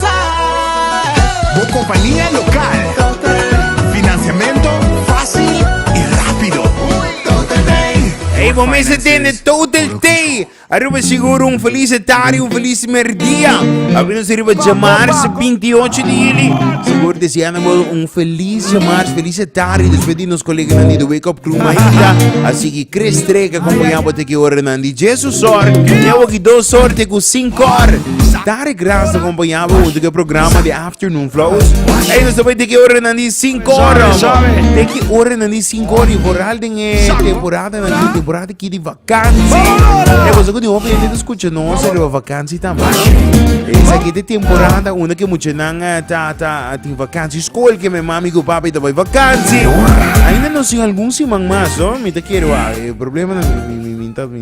Bo kompania lokal. Finansiamentu fásil i rápido. Total Tay. Hey, bo mester tende Total Tay. Aruba seguro un feliz tarde, un feliz merdia. Abi nos arriba jamarse 28 de juli. Seguro deseando bo un feliz jamarse, feliz tarde. Después di nos colega nan di The Wake Up Crew Maita. Así que Chris Trek acompaña bo te que hora nan di Jesus or. Te waki dos or te ku cinco or. Dare gracia con boyaba junto que programa de Afternoon Flows. Hey, no sabe de qué hora nan di 5 horas. De qué hora nan di 5 horas. Vooral den e temporada nan di temporada ki di vakantie. Hey, was ook die hoop je te escucha no se de vakantie también. Esa ki de temporada una que mucha nan eh, ta ta tin vakantie school que me mami go papi ta boy vakantie. Ainda no sin algún siman mas, no? Mi te quiero, ah, eh, problema nan mi mi mi mi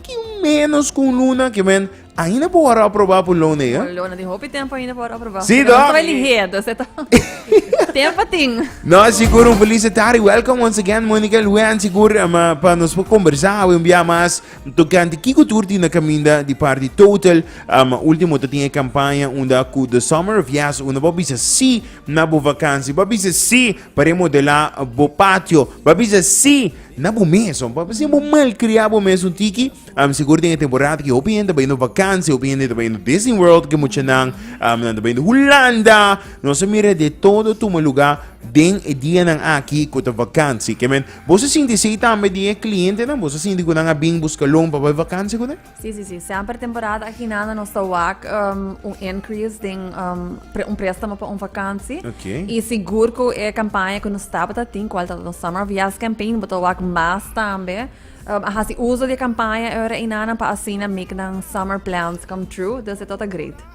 Ki un menos ku un luna, ki men ainda por wòrdu aprobá por luna, ja? Luna tin hopi tempu ainda por wòrdu aprobá. Sí, toch? Nos ta bai lihé, entonces e ta tempu tin. No, sigur, un felis de tardi. Welcome once again, Monica Lujan. Sigur, ma pa nos por kombersá awe un bia mas tokante kiko tur tin na kaminda di parti Total. Um, último ta tin e kampaña unda ku The Summer of Yes, unda bo bisa sí na bo vakansi, bo bisa sí pa remodelá bo patio, bo bisa sí na bo mesun, pa bese bo malkriá bo mesun tiki. Um, sigur den e temporada ki hopi hende ta baindo vakansia, hopi hende ta baindo Disney World, ke muchanan um, nan ta baindo Hulanda. Nos a mira de todo tuma lugá den e dianan aki ku ta vakansia. Ke men, bo sa sinti esei tambe di e klientenan? Bo sa sinti ku nan a bin busca loan pa bai vakansia ku nan? Sí, sí, sí. Semper temporada aginana nos ta wak um, un increase den um, pre, un préstamo pa un vakantie. Okay. Y sigur ku e kampanja ku nos taba ta tin, kual ta nos summer of yes campaign, bo ta wak mas tambe. Um, a hasi uso di kampanja era inana pa asina make nan summer plans come true. Dus e tota great.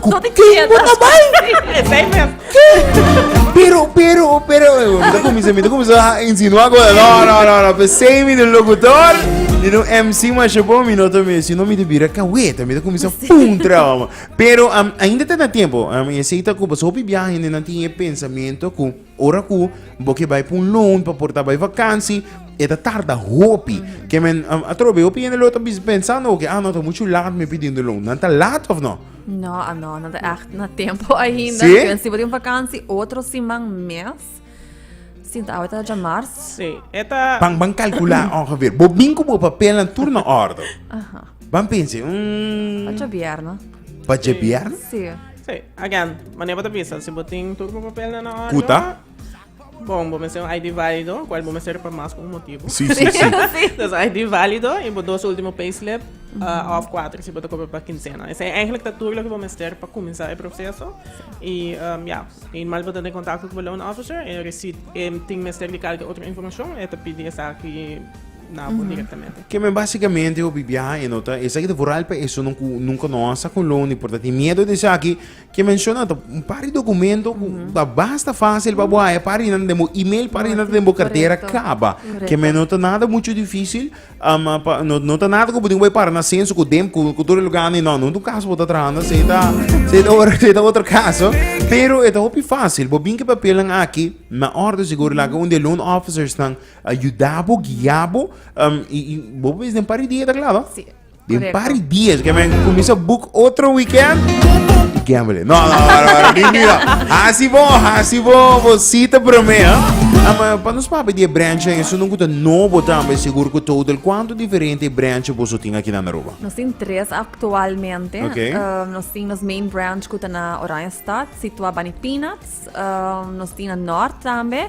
Ku ken bo ta bai? Esei mes. Pero, pero, pero. Mita kuminsa, mita kuminsa a insinuá cosa. No, no, no, no. Pe sei mi di locutor, di un MC masha bon, mi no ta mi. Si no mi di bira kaweta, mita kuminsa pum traba, man. Pero, um, ainda ta na tempo. Um, esei ta ku, paso hopi biaha hende nan tin e pensamiento ku. Ora ku bo ke bai pa un loan pa por ta bai vakansi, e ta tarda hopi. Ke men atrobe, hopi hende lo ta pensando oke, ah no, ta muchu lat mi pidiendo loan. Nan ta lat of no? No, ah no, nan ta ègt na tempu ainda. Sí? Dipende si bo tin vakansi otro siman, mes. Sinta awe ta dja mars. Sí, e ta... Ban, ban kalkulá ongeveer. Bo bin ku bo papelnan tur na òrdu. Aha. Ban pense, mm. Pa dja bierna. Pa dja bierna? Sí. Sí, again, mane bo ta bisa si bo tin tur bo papelnan na orde. Kuta? Bon, bo mester un ID válido, kual bo mester pa mas ku un motibu. Sí, sí, sí. Dus ID válido i bo dos último payslip uh, of kuater si bo ta kobra pa kinsena. Esei eigenlijk ta tur lo ke bo mester pa kuminsá e proseso. I um, ya, i normal bo ta den kontakto ku bo loan officer, e receipt, e tin mester di kalke otro informashon, e ta pidi esaki na bo directamente. Que men básicamente hopi biaha en nota esa que te vooral pe eso nunca nunca no asa con lo ni por tati miedo de saki que menciona to un par de documento ba basta fácil ba boa e pari nan demo email pari nan demo cartera caba que men nota nada mucho difícil ama pa no nota nada como digo para na senso con dem con con todo lugar ni no no tu caso bota trahando se ta se ta otro se ta otro caso pero e ta hopi fácil bo bin que papel nan aki na orde seguro la un de loan officers nan a yuda bo, guia bo, um, y, y bo ves den pari dia ta klaar, no? Sí, Den correcto. pari dies, que men comienza boek otro weekend. Y gambele. No, no, no, no, no, ni, ni, no. Hasi bo, hasi bo, bo cita prome, hè? Ah, maar pa nos papi die branche, en eso nunca te no botan, ben seguro que total cuánto diferente branche bo so tin aquí na Aruba. Nos tin tres actualmente. Ok. Um, nos tin nos main branch kuta na Oranjestad, situa Bani Peanuts. Um, nos tin na Noord tambe.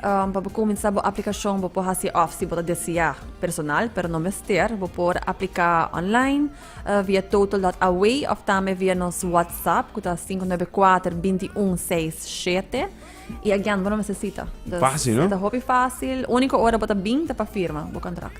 Pa bo kuminsá bo aplikashon bo por hasi òf si bo ta deseá personal, pero no mester. Bo por apliká online, via Total dot Away òf tambe via nos WhatsApp ku ta sinku nuebe kuater binti un seis shete. I agian bo no mester sita. Fásil, no? Ta hopi fásil. Úniko ora bo ta bin ta pa firma bo kontrakt.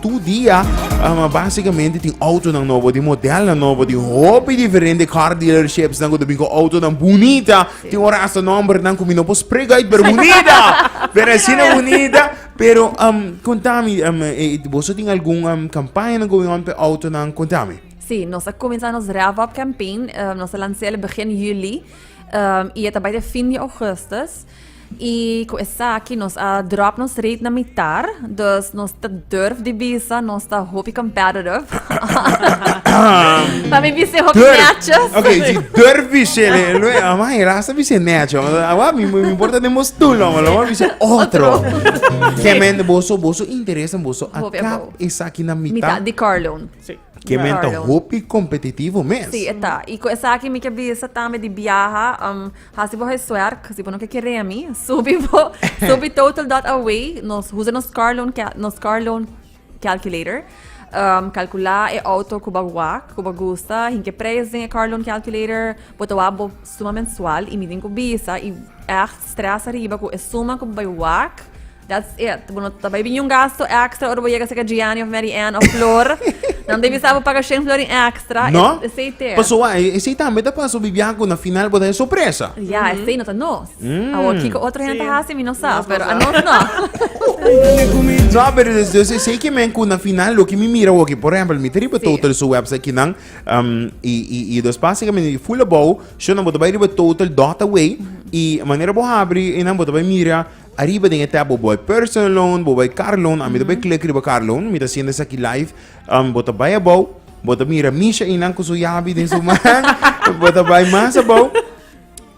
Tur dia, ma básikamente tin autonan nobo di modelnan nobo di hopi diferente car dealerships-nan ku ta bin ku autonan bunita. Tin ora asta nòmbernan ku mi no por spreka uit, pero bunita! Pero asina bunita. Pero, konta mi, boso tin algun kampañanan going on p'e autonan? Konta mi. Sí, nos a kuminsá nos Rev Up Campaign. Nos a lans'é begin Juli i e ta bai te fin di Ougùstùs. I ku esaki nos a dròp nos rate na mitar, dus nos ta durf di bisa nos ta hopi competitive. Pami bisa hopi Durf. matches. Ok, si durf bishe le, le, ama e rasta bishe necho. Awa mi mi importa de mos tu lo, lo mo bishe otro. Ke men boso boso interesa boso Hopi akap abou. esaki na Mita mita. di car loan. Ke men ta hopi kompetitivo mes. Sí, e ta. I ku esaki mi ke bisa tambe di biaha, um, hasi bo huiswerk, si bo no ke keré mi, subi bo, subi total.away, nos usa nos car loan, nos car loan calculator, um, kalkulá e outo ku bo wak, ku bo gusta, hin ke preis den e car loan calculator, bo ta wak bo suma mensual, i midin ku bisa, i ègt strès ariba ku e suma ku bo bai wak, That's it. Bo no ta bai biña un gasto extra ora bo yega seka Gianni of Mary Ann of Flor. Nan debe sa bo paga shen florin extra. No? Es, esei te. Paso wa, e- esei tambe ta pasa bibia ku na final bo ta e sorpresa. Ja, esei no ta nos. Mm. Awor, kiko otro hende Sí. hasi mi no sa, Nos no pero sa. a nos no. No, pero dus, dus esei ke men ku na final lo ke mi mira hoki. Por ejemplo, mi te riba Sí. total su website ki nan um, i, i, i dos pas seka men i full abou. Sho nan bo ta bai riba total dot away. I manera bo habri, i nan bo ta bai mira Ariba den e tab bo bai personal loan, bo bai car loan, ami ta bai klik riba car loan, mi ta haciendo esaki live, um, bo ta bai abao, bo ta mira Misha y nan cu su yabi den su man, bo ta bai mas abao,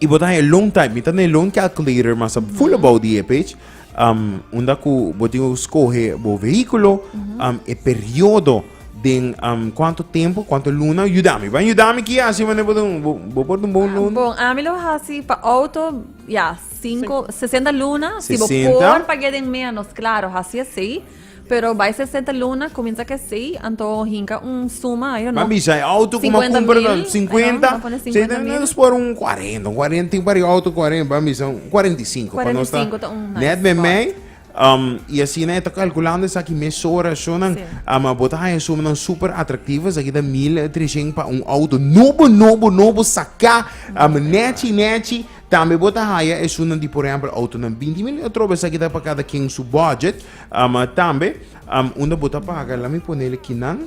y bo ta haña loan type, mi ta na e loan calculator mas ab- full abao di e page, um, unda cu bo tin cu scoge bo vehiculo, um, e periodo den um, cuanto tempo, cuanto luna, yudami, ban yudami kia haci manera bo ta, bo, bo por dun bon Ah, loan. bon, ami lo haci pa auto, Ya, sinku, sesenta luna, si bo por pagu'é den ménos, klaro, hasi asei, pero bai sesenta luna, kuminsá ku asei, anto hinka un suma, I don't know. Mami bisha, e outo ku m'a kumpra nan, sinkuenta, nos por un kuarenta, un kuarenta, tin pariba outo kuarenta, mami bisha, un kuarenta i sinku, pa nos ta, nèt meimei, Um, y así na está calculando esa aquí mes hora sonan sí. um, botar en suma nan super atractivo esa aquí da 1300 para un auto nobo nobo nobo saca um, nechi nechi también bota haya es una de por ejemplo auto nan 20 mil otro esa aquí da para cada quien su budget um, también um, una bota paga la mi ponerle kinan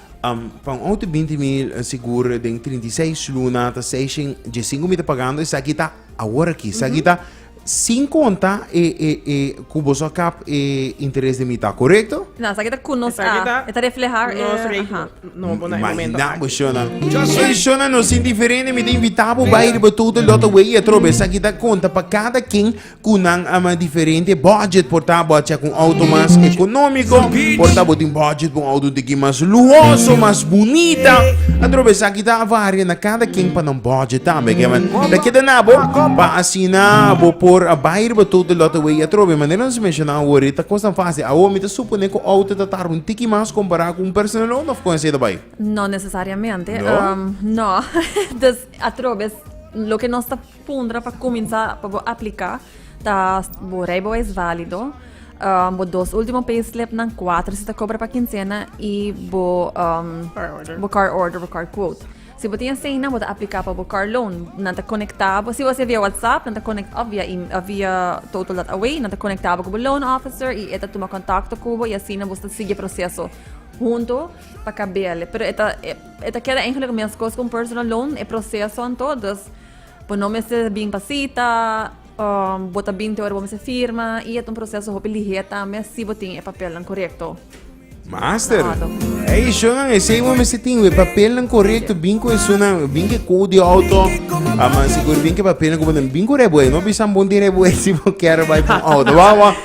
Pa un auto binti mil sigur den trinta i seis luna ta seishen diesinku mi ta pagando esaki ta awor aki esaki ta sin konta e e e ku boso a kap e interes de mitad korekto? Na, esaki ta kunos a Esaki ta e ta refleha e nos aha. rekening nobo na e momento Imagina bo aki. shona e shona no sin diferente mi ta invita bo bai riba tutu lotaway atrobe esaki ta konta pa kada ken cu nan ama diferente budget, por ta bo a checa un auto mas economico, por ta bo tin budget pa un auto un tiki mas luhoso, mas bunita, atrobe esaki ta a varia na cada ken pa nan budget tambe, ke man ta keda na bo pa asina bo por a bay riba todo e lote wey, atrobe manera nos a menciona awor e ta cos tan facil, awor mi ta supone cu auto ta tarda un tiki mas compara cu un personal loan of con así ta bay? No necesariamente, no, dus atrobe loke nos ta. Puntra pa kuminsá pa bo apliká ta bo Rijbewijs válido, bo dos último payslipnan, kuater si ta kobra pa kinsena i bo bo car order, bo car quote. Si bo tin eseinan bo ta apliká pa bo car loan. Nan ta konektá bo, si bo hasié via WhatsApp nan ta konek òf via email òf via total.away nan ta konektá bo ku bo loan officer i e ta tuma kontakto ku bo i asina bo ta sigui e proseso huntu pa kabe'e. Pero e ta e ta keda eigentlek meskos ku un personal loan e prosesonan to, dus. Bo no mester bin pa cita, um, bo ta bin te ora bo mester firma y et un proceso hopi lihe tambe si bo tin e papelnan corecto. Master, e isonan esei mo mesti tin we papelnan correcto, bin cu isonan, bin ke code de auto, aman sigur bin ke papelnan como bin correcto, no bisan bon dire boe si bo quiero bai pa auto, wa wa.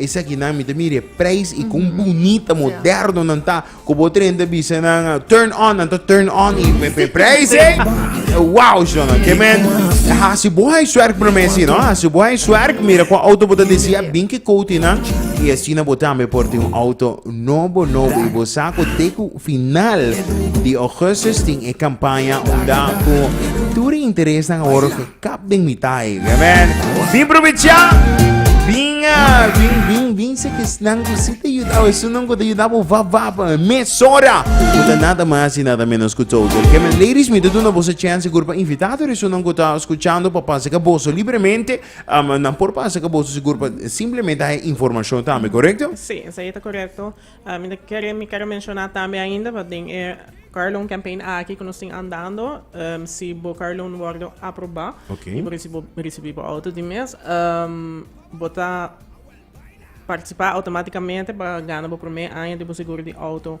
Esaki nan mi ta mira e prijs i kon bunita, moderno nan ta. Ku bo tren ta bisa nan turn on, nan ta turn on i me pe prijs ei. Wow, shon. Ke men hasi bo huiswerk promé si no. Hasi bo huiswerk, mira kon auto bo ta desea, bin ke kouti nan i asina bo tambe por tin un auto nobo nobo. I bo sa ku te ku final di Augustus tin e kampaña unda ku tur e interes nan a wòrdu Kap den mi tai. Amen. Bin provecha. Bin a. Bin, bin, bin se kesnan ku si ta yudao. Esun nan ku ta yuda bo vap, vap. Mesora. Ku ta nada mas i nada menos ku total. Kemen ladies mi ta duna bo sa chance sigur pa invitá tur esun nan ku ta skuchando pa pasa ka boso libremente. Am, nan por pasa ka boso sigur pa simplemente haña informashon tambe. Korekto? Sí, esei ta korekto. Mi ta kere mi kere menshoná tambe ainda pa den e Carlon Campaign aki ku nos tin andando, si bo Carlon wòrdu aprobá i bo risibí bo outo di mes, bo ta partisipá outomátikamente pa gana bo promé aña di bo seguro di outo.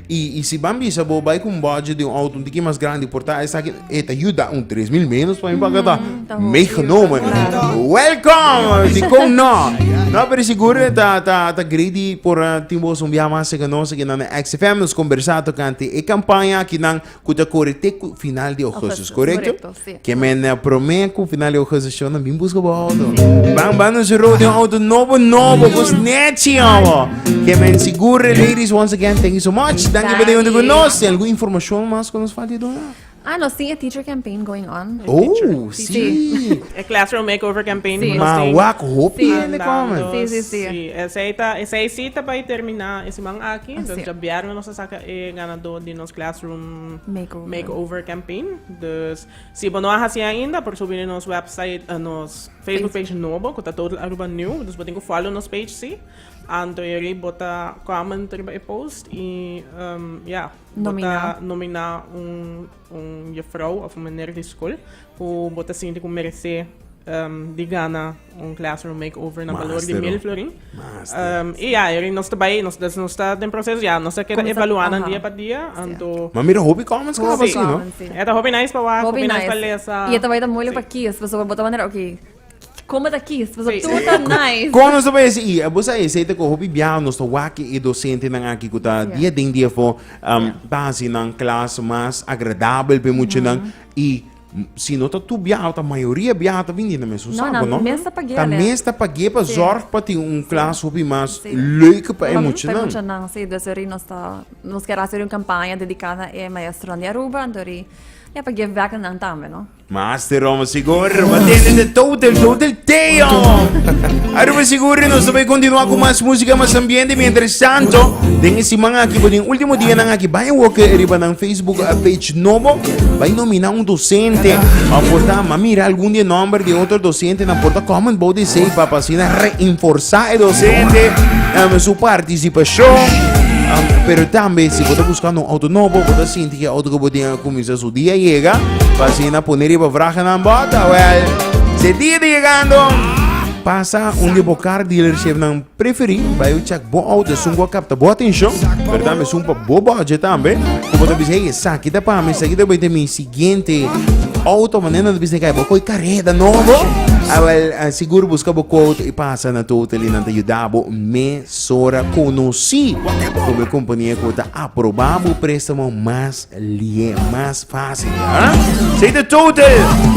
Y, y si ban bisa bo bay cu un budget di un auto un tiki mas grandi por ta esaki, e ta yuda un tres mil menos pa mi paga ta meegenomen. Welcome! Si con no. No, pero seguro e ta, ta, ta great di por eh, tin boso un biaha mas seca nos aquí nan XFM. Nos conversa tocante e campaña aquí nan Ku ta kore te ku final di Augustus, korekto? Keme na prome ku final di Augustus show nan bin buska bo auto. Bang bang nos rou di auto nobo nobo ku snechi awo. Keme sigure ladies once again thank you so much. Danki pa den yunto ku nos. Tin algun informashon mas ku nos falta di duna? Ah, nos tin e teacher campaign going on. Oh, sí. E classroom makeover campaign ku nos tin. Mawak hopi hende komen. Sí, sí, sí. Sí, esei ta, esei sí ta bai termina e siman aki. Entonces djabièrnè nos ta saka e ganadó di nos. Classroom Makeover, makeover Campaign. Dus si bo no a hasi ainda, por subi nos website, uh, nos Facebook page nobo, ku ta Total Aruba New. Dus bo tin ku follow nos page, si. Antoyeri bo ta comment riba e post i, um, ya, bo ta Nomina. nomina un, un juffrouw of un meneer di skol Ku bo ta sinti ku meresé di gana un classroom makeover na balor di mil florin. I ya e nos ta bai, nos ta den proseso ya, nos ta keda evaluá nan dia pa dia, anto. Ma mira hopi comments ku a basi no. E ta hopi nice pa wak, hopi nice pa lesa. I e ta bai ta moeilijk pa kies, pasobra bo ta wonder, oké. Como ta kies? Paso tú ta nice. Con nos voy a decir, y vos sabés, se te cojo bibiao, nos to waki y docente nan aquí que ta día den día fo, um, ta así nan clase más agradable pe mucho nan y si no ta tu biao, ta mayoría biao ta vindi na mes un No, saco, nan no? mes ta pagé Ta alea. mes ta pagé pa Sí. zorg pa tin un clase hopi más Sí. leuke pa e Ujú. mucho Pe nan. mucha nan, sí. Dus ori nos ta, nos quiere hacer un campaña dedicada na e maestronan di Aruba, anto ori, ya pa give back na nan tambe, no? Master Roma Sigur, mantene de total, total damn! Aruba Sigur, nos ta bai continua cu mas música, mas ambiente. Mientras tanto, den e semana aki, den último dia nan aki, bai woke riba nan Facebook a page nobo, bai nomina un docente, pa porta, ma mira algun di e nomber di otro docente, nan porta comment bou di esey, pa pa asina reinforsa e docente, um, su participacion. Um, pero tambe, si bo ta buscando un auto nobo, bo ta sinti cu e auto cu bo tin a cuminsa su. Su dia yega, pa asina pone riba vragenan bòta. Wèl, si e dia ta yegando, pasa un di bo kar dealershipnan preferí, bai bo chèk bo outo esun ku a kapta bo atenshon, pero tambe esun pa bo bòdjet tambe, ku bo ta bisa, ey, esaki ta pa mi, esaki ta bai ta mi siguiente outo. Mane nan ta bisa di kai? Bo koi kareda nobo? A wèl, a sigur buska bo ku outo i pasa na tur tali, nan ta yuda bo mesora konosí kon bo e kompania ku ta aproba bo préstamo mas Lie mas fácil, ha? Sei ta tote!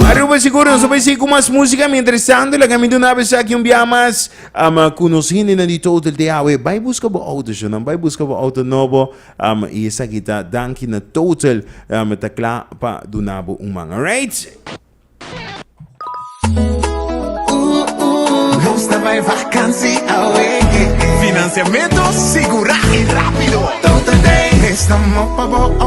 Aruba sigur nos a bai sigui ku mas músika. Miéntras tantu, laga mi duna bo esaki un biaha mas um ku nos hendenan di Total te awe. Bai buska bo outo, shunann. Bai buska bo outo nobo. Um i esaki ta danki na Total um ta kla pa duna bo un man. Alright! Nos ta bai vakansi awe. Finansiamentu sigurá i rápido. Total Day. Prestamo pa bo outo.